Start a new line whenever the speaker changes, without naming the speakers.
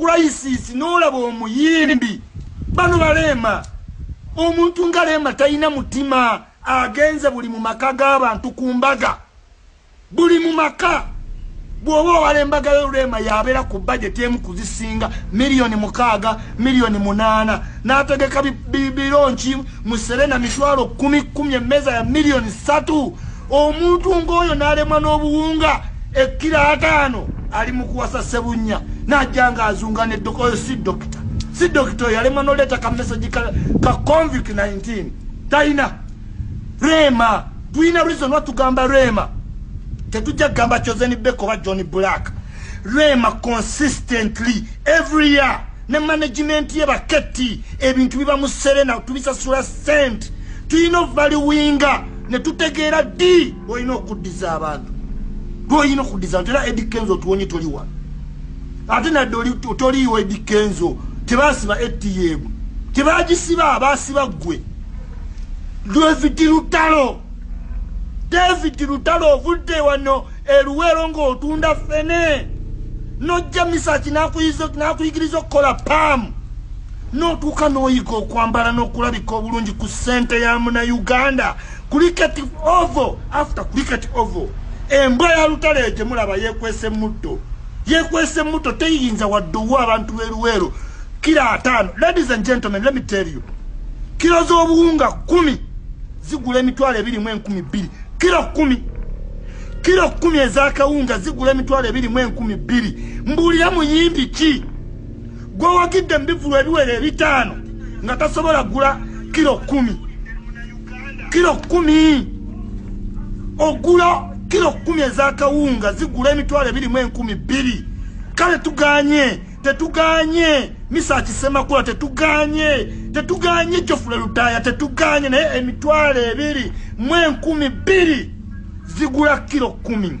crisis nolaba omuyimbi bano baleema omuntu nga leema talina mutima agenze buli mu maka g'abantu ku mbaga buli mu maka bw'oba owala embaga yo leema yabeera ku bajeti emu kuzisinga miliyoni mukaaga miliyoni munaana n'ategeka bironki mu serena mitwalo kumi kumi emmeeza ya miliyoni ssatu omuntu ng'oyo n'alemwa n'obuwunga ekkiro ataano ali mu kuwasa sebunnya n'ajja nga azunga ne dokita oyo si dokita si dokita oyo alemwa n'oleeta ka mesagi ka convic 19 talina rema tulina reason lwa tugamba rema tetujja kugamba chosen beko oba john black rema consistently every year ne management ye baketti ebintu biba mu serena tubisasula sente tulina ovaliwinga ne tutegeera ddi olina okuddiza abantu lwoyina okuddiza abantu era edi kenzo otuwonye toli wano ate nadde toliiwo edi kenzo tebasiba atm tebagisiba basiba ggwe david lutalo david lutalo ovudde wano eruweero ng'otunda fene nojja misaki nakuyigiriza okukola paamu notuuka noyiga okwambala nokulabika obulungi ku sente ya muna uganda kuliketi ovo after kuliketi ovo embwa ya lutale gyemulaba yekwese muddo yekwese muddo teyiyinza wadde owa abantu beruweero kira ataano ladies and gentlemen let me tell you kiro z'obuwunga kumi zigula emitwalo ebiri mu enkumi bbiri kiro kumi kiro kumi ezakawunga zigula emitwalo ebiri mu enkumi bbiri mbuulira muyimbi ki gwewagidde mubivulu ebiwere ebitaano nga tasobola gula kiro kumi kiro kumi ogula kiro kumi ezakawunga zigula emitwalo ebirimu enkumi bbiri kale tuganye tetuganye misa kisemakula tetuganye tetuganye jofule lutaya tetuganye naye emitwalo ebiri mu enkumi bbiri zigula kiro kumi